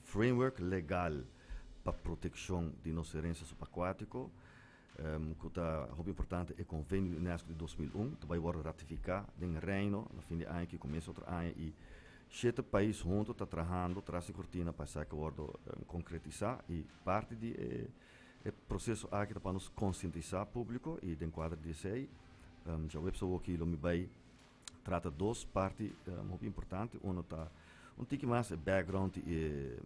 Framework legal pa protekshon di nos herensia subakuátiko, ku ta hopi importante, e Konvenio di UNESCO di dos mil un, ta bai wòrdu ratifiká den Reino na fin di aña aki, komienso di otro aña, i shete pais huntu ta trahando tras di kortina pa esaki wòrdu konkretisá. I parti di e proseso aki ta pa nos konsientisá públiko, i den kuadro di esei, Joëp Sawoki lo mi bai. trata dos parti um hopi importante. Uno ta un tiki mas e background i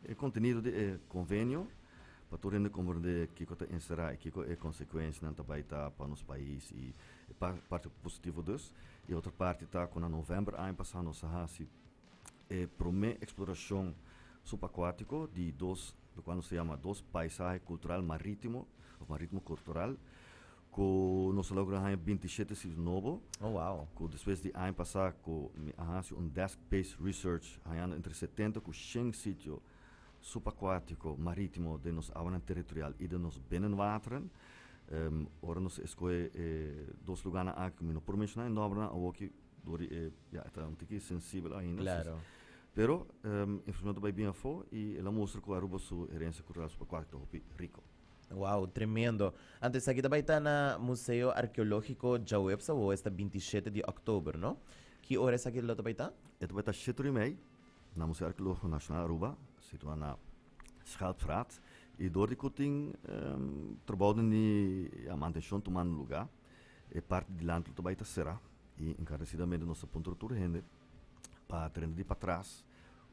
e kontenido di e konvenio pa tur hende komprendé kiko ta enserá i kiko e konsekuenshanan ta bai ta pa nos pais i e parti positivo dus. E otro parti ta ku na novèmber aña pasá nos a hasi e promé eksplorashon subakuátiko di dos, lo kual nos a yama dos paisahe kultural marítimo òf marítimo kultural Ku nos a logra haña binti shete siti nobo. Oh, wow. Ku despues di aña pasá ku mi a hasi un desk-based research hañando entre setenta ku shen sitio subakuátiko, marítimo den nos awanan territorial i den nos binnenwateren. Ora nos a eskohe e dos lugánan aki ku mi no por menshoná e nòmbernan awoki dor di e, ya, e ta un tiki sensibel ainda. Klaro. Pero, e informashon ta bai bien afó i el a mustra ku Aruba su herensia kultural subakuátiko ta hopi riko. Wow, tremendo. Antes aki ta bai ta na Museo Arkeológiko djaweps awo esta 27 di oktober, no? Ki ora esaki lo ta bai ta? E ta bai ta siete ora y mei na Museo Arkeológiko Nasional Aruba, situá na Schelpstraat. I dor di ku tin trabounan di mantenshon tumando lugá, e parti dilanti lo ta bai ta será i enkaresidamente nos ta puntra tur hende pa tereno di patras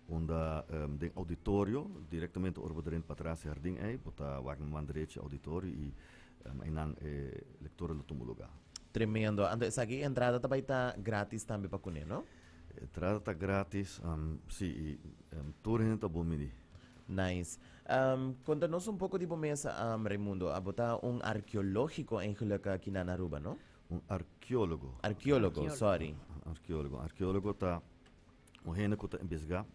unda den auditorio direktamente ora bo drenta patras e hardin ei bo ta wak na man derechi e auditorio i einan e lektoren lo tumba lugá. Tremendo. Anto esaki e entrada ta bai ta gratis tambe pa kuné, no? E entrada ta gratis, sí, i tur hende ta bon bini. Nice. Konta nos un poko di bo mes, Raimundo. Abo ta un arkeológiko en Gelukkig Kinan Aruba, no? un arkeólogo. Arkeólogo, sòri. Un arkeólogo. Un arkeólogo ta un hende ku ta investigá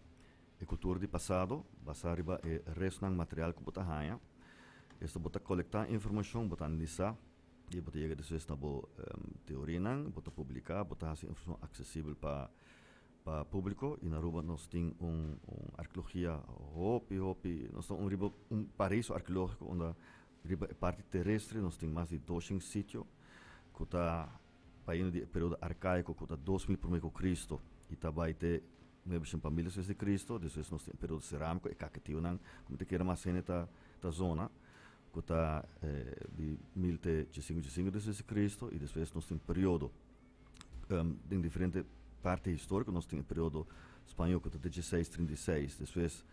e kultura di pasado basá riba e restnan material ku bo ta haña. Esto bo ta kolektá informashon, bo ta analisá i bo ta yega despues na bo teorianan. Bo ta publiká, bo ta hasi informashon aksesibel pa pa públiko. I na Aruba nos tin un arkeologia hopi, hopi, nos ta un riba un paraíso arkeológiko unda Riba e parti terestre nos tin mas di doshen sitio ku ta baino di e periodo arkaiko ku ta dos mil promé ku Kristu i ta bai te nuebeshen pa mil despues di Kristu. Despues nos tin e periodo seramiko, e kaketionan ku mi ta kere mas hende ta zona, ku ta di mil te chesinku chesinku despues di Kristu. I despues nos tin periodo den diferente parti historiko nos tin e periodo spañol ku ta dieciseis trinta i seis despues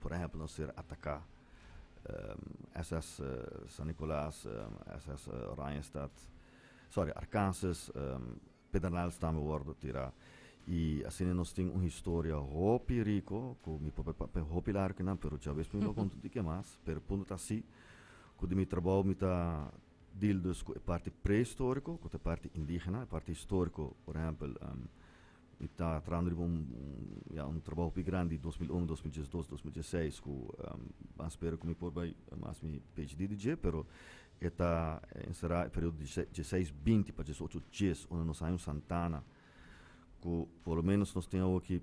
Por ehempel nos ser ataka SS San Nicolas, SS Oranjestad, sorry Arkansas, Pedernales tambe wordo tira y asina nos tin un historia hopi rico cu mi propio papia hopi lar kinan pero djabes mi no a conta dique mas pero el punto ta asi cu di mi trabao mi ta deal dus cu e parti prehistorico cu ta e parti indigena, e parti historico por ehempel Mi ta trabando riba un ya un trabaho pi grandi dos mil un, dos mil diesdos, dos mil diesseis ku a spera ku mi por bai mas mi PHD di dje pero e ta enserá e periodo di diesseis binti pa diesocho djes unda nos haña un Santana ku por lo menos nos tin awo aki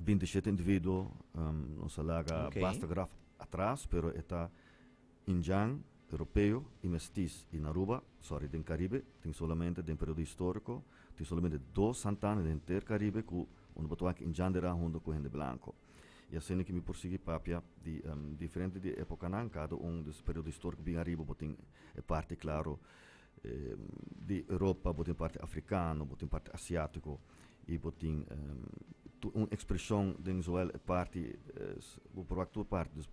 binti shete individuo nos a laga basta graf atras pero e ta Indian, Europeo y Mestis y na Aruba, sorry den Caribe, tin solamente den periodo historico, tin solamente dos Santana den henter Caribe cu unda bo ta wak Indian de ra hunto cu hende blanco. Y asina ki mi por sigui papia di diferente di e epocanan, cada un di su periodo historico bien ariba bo tin e parti claro. di Europa, bo tin parti afrikano, bo tin parti asiatiko, i bo tin tur un ekspreshon den zowel e parti, bo proba tur parti, dus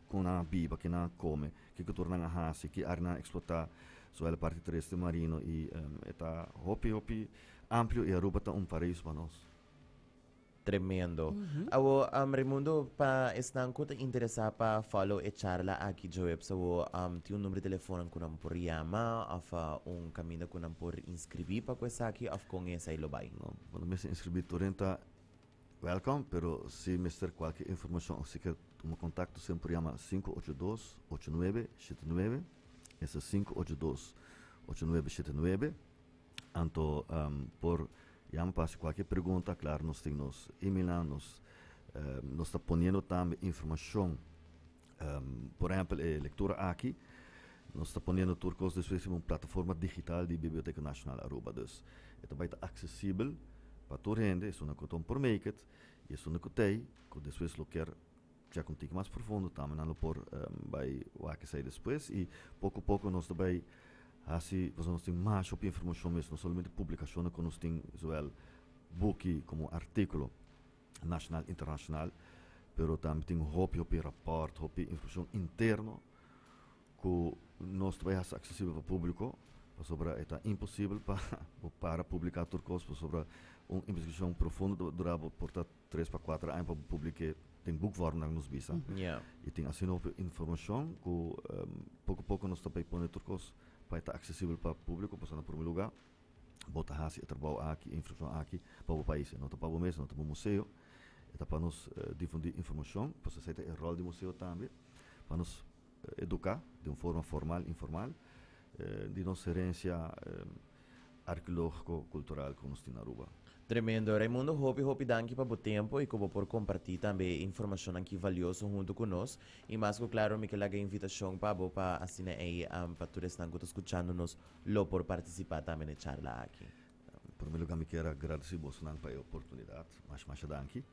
kon nan a biba, ke nan a kome, ke kultura nan a hasi, ke área nan a eksplotá, zowel e parti terrestre, marino, i e ta hopi hopi amplio, i Aruba ta un paraíso pa nos. Tremendo. Awo um Raimundo pa esnan cu ta interesa pa follow e charla aki djoeps awo um tin un number di telefonan cu nan por yama of un caminda cu nan por inscribi pa cu esaki of con esai lo bay? No, bo no mester inscribi tur hende ta welcome pero si mester cualkier informacion of si kier tuma contacto siempre por yama sinku ocho dos ocho nuebe shete nuebe esa sinku ocho dos ocho nuebe shete nuebe. Anto por yama pa hasi kualke pregunta, klar nos tin nos emailnan, nos nos ta poniendo tambe informashon, por ehèmpel e lektura aki, nos ta poniendo tur kos despues riba un plataforma digital di Biblioteka Nashonal Aruba. Dus e ta bai ta aksesibel pa tur hende, esunnan ku ta un promaker i esunnan ku t'ei ku despues lo ker Chek un tiki mas profundo tambe, nan lo por bai wak esei despues. I poko poko nos ta bai hasi pasobra nos tin masha hopi informashon mes, no solamente publikashonnan ku nos tin, zowel buki komo artikulo nashonal internashonal, pero tambe tin hopi hopi rapòrt, hopi informashon interno ku nos ta bai hasi aksesibel pa públiko pasobra e ta imposibel pa bo para publiká tur kos pasobra un investigashon profundo ta durá bo por ta. tres pa kuater aña pa bo publike tin buk wòrnan nos bisa i tin asina hopi informashon ku poko poko nos ta bai pone tur kos pa e ta aksesibel pa publiko pasobra na promé lugá bo ta hasi e trabou aki e informashon aki pa bo pais no ta pa bo mes no ta bo museo e ta pa nos difundí informashon pasobra esei ta e ròl di museo tambe pa nos. Educá di un forma formal, informal, di nos herencia arqueologico, cultural cu nos tin na Aruba. Tremendo. Raimundo hopi hopi danki pa bo tempo y cu bo por comparti tambe e informacionnan ki valioso hunto cu nos. Y mas cu claro mi ke laga invitacion pa bo pa asina ey pa tur esnan cu ta scuchando nos lo por participa tambe n'e charla aki. En prome lugá mi kier a gradesí bosnan pa e oportunidat. Masha masha danki.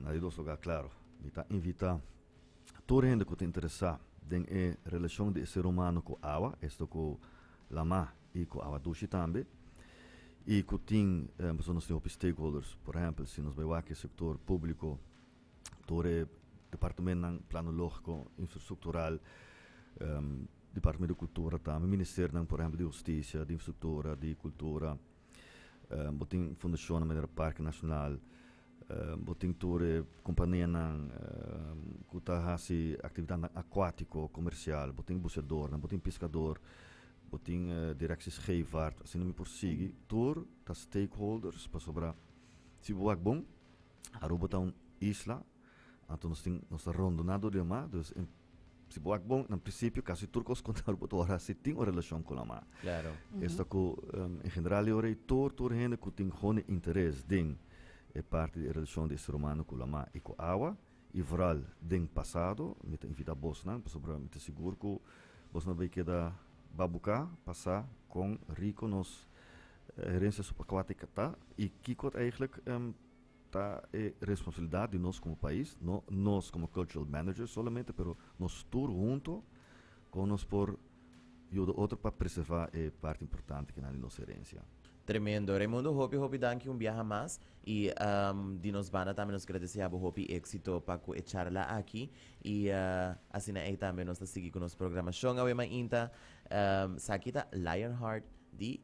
Na di dos lugá, klaru, mi ta invitá tur hende ku ta interesá den e relashon di e ser humano ku awa, esto ku lamá i ku awa dushi tambe, i ku tin pasobra nos tin hopi stakeholders. Por ehèmpel, si nos bai wak e sektor públiko, tur e departamentnan, plano lógiko, infrastruktural, Departamento di Kultura tambe, ministerionan por ehempel di Hustisia, di Infrastruktura, di Kultura, bo tin fundashonnan manera Parke Nashonal, bo tin tur e kompanianan ku ta hasi aktivitatnan akuátiko, komersial, bo tin buseadornan, bo tin piskador, bo tin direkshi scheepvaart, asina mi por sigui, tur ta stakeholders pasobra si bo wak bon Aruba ta un isla. Anto nos tin nos ta rondoná dor di e ma dus en si bo wak bon na prinsipio kasi tur kos kontador bo ta wòrdu hasi tin un relashon ku lama Klaro. esta ku em, en general yo rei tur tur hende ku tin honi interes den e parti di e relashon di e ser humano ku lama i ku awa i vooral den pasado mi ta invitá bosnan pasobra mi ta sigur ku bos na bai keda babuka pa sa kon riko nos herensia suprakuátika ta i kiko ta eigenlijk em Ta e responsabilidad di nos como pais, no nos como cultural managers solamente, pero nos tur hunto, con nos por yuda otro pa preserva e parti importante kinan di nos herencia. Tremendo. Raimundo hopi hopi danki un biaha mas y di nos banda tambe nos kere deseabo hopi exito pa cu e charla aki y asina ey tambe nos ta sigui cu nos programacion awe mainta. Saki ta Lionheart di